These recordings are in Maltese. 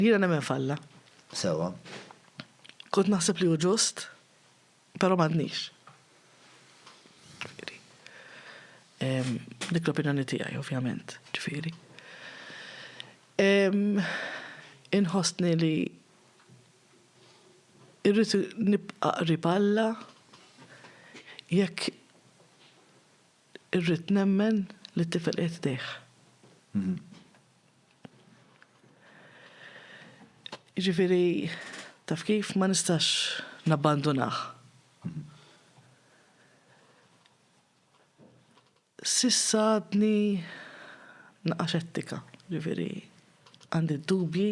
Jiena nemmen f'Alla. Sewwa. Kont naħseb li hu ġust, però m'għadnix. Ġifieri, dik l-opinjoni tiegħi ovvjament, ġifieri. Inħossni li irrid nibqa' qrib Alla jekk irrid nemmen li t-tifel qiegħed f'idejh. Jiġifieri, taf kif, ma nistax nabbandunah. S'issa għadni naqa' xettika, jiġifieri, għandi d-dubji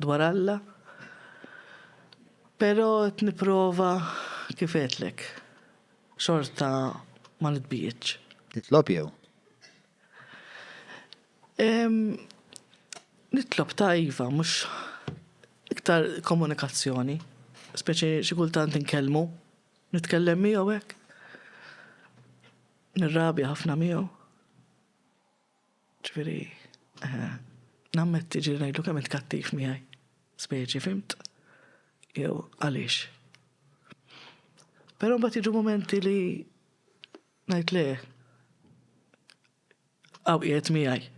dwar Alla, però qed nipprova, kif għedtlek, xorta ma nitbiegħedx. Titlob jew? Nitlob ta' iva, mhux iktar komunikazzjoni, speċi xi kultant inkellmu, nitkellem miegħu hekk, nirrabja ħafna miegħu. Ġifieri, nammetti ġieli ngħidlu kemm int kattiv miegħi, speċi, fhimt? Jew għaliex. Però mbagħad jiġu mumenti li ngħid le. Hawn qiegħed miegħi.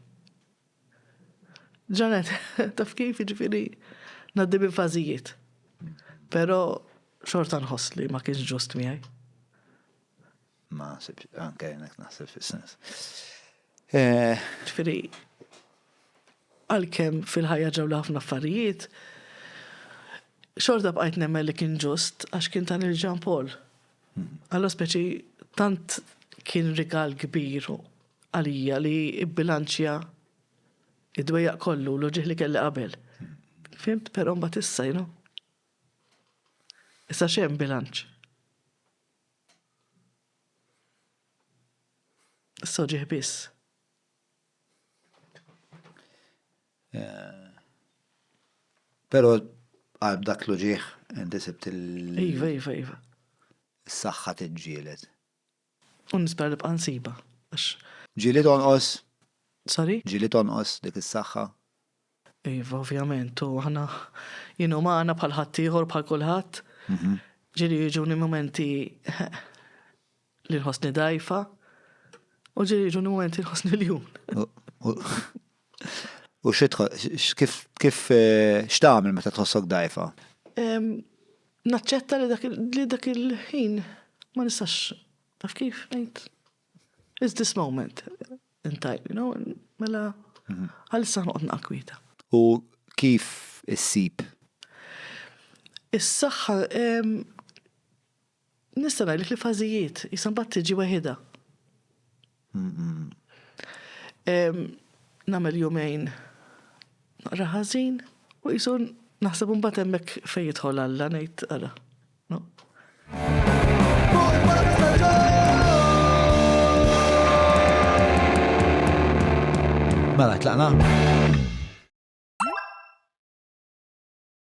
Ġanet, taf kif, jiġifieri ngħaddi minn fażijiet. Però xorta nħoss li ma kienx ġust miegħi. Ma nsibx, anke jenek naħseb fis-sens. Eh, ġifieri għalkemm fil-ħajja ġew ħafna affarijiet, xorta bqajt nemmen li kien ġust għax kien ta' il-ġan Paul. Alla speċi tant kien rigal kbir għalija li ibbilanċja id-dwejjaq kollu l ġieħ li kelli qabel. Fimt, però mbagħad issa, you know. Issa xem bilanċ. Issa ġieħ biss. Pero qalb dak l-uġieħ inti sibt il. Iva, iva, iva. Is-saħħa tiġġieled. U nispera nibqa' nsibha għax. Ġieli tonqos. Sorry? Ġieli tonqos dik is-saħħa. Iva, ovvjament, u aħna jien umana bħal ħaddieħor bħal kulħadd. Ġieli jiġuni mumenti Li nħossni dajfa. U ġiri ġuni momenti nħossni l-jum. U kif kif eh, x'tagħmel meta tħossok dajfa? Naċċetta li dak il-ħin ma nistax taf kif ngħid. Is this moment intajt, you know, mela mhm. għalissa noqgħod naqkwita. U kif issib? Is-saħħa Nista' ngħidlek li fażijiet, issa mbagħad tiġi weħidha. Nagħmel jumejn naqra ħażin u qisu naħseb u mbagħad hemmhekk fejn jidħol Alla ngħid ara. Mela tlaqna.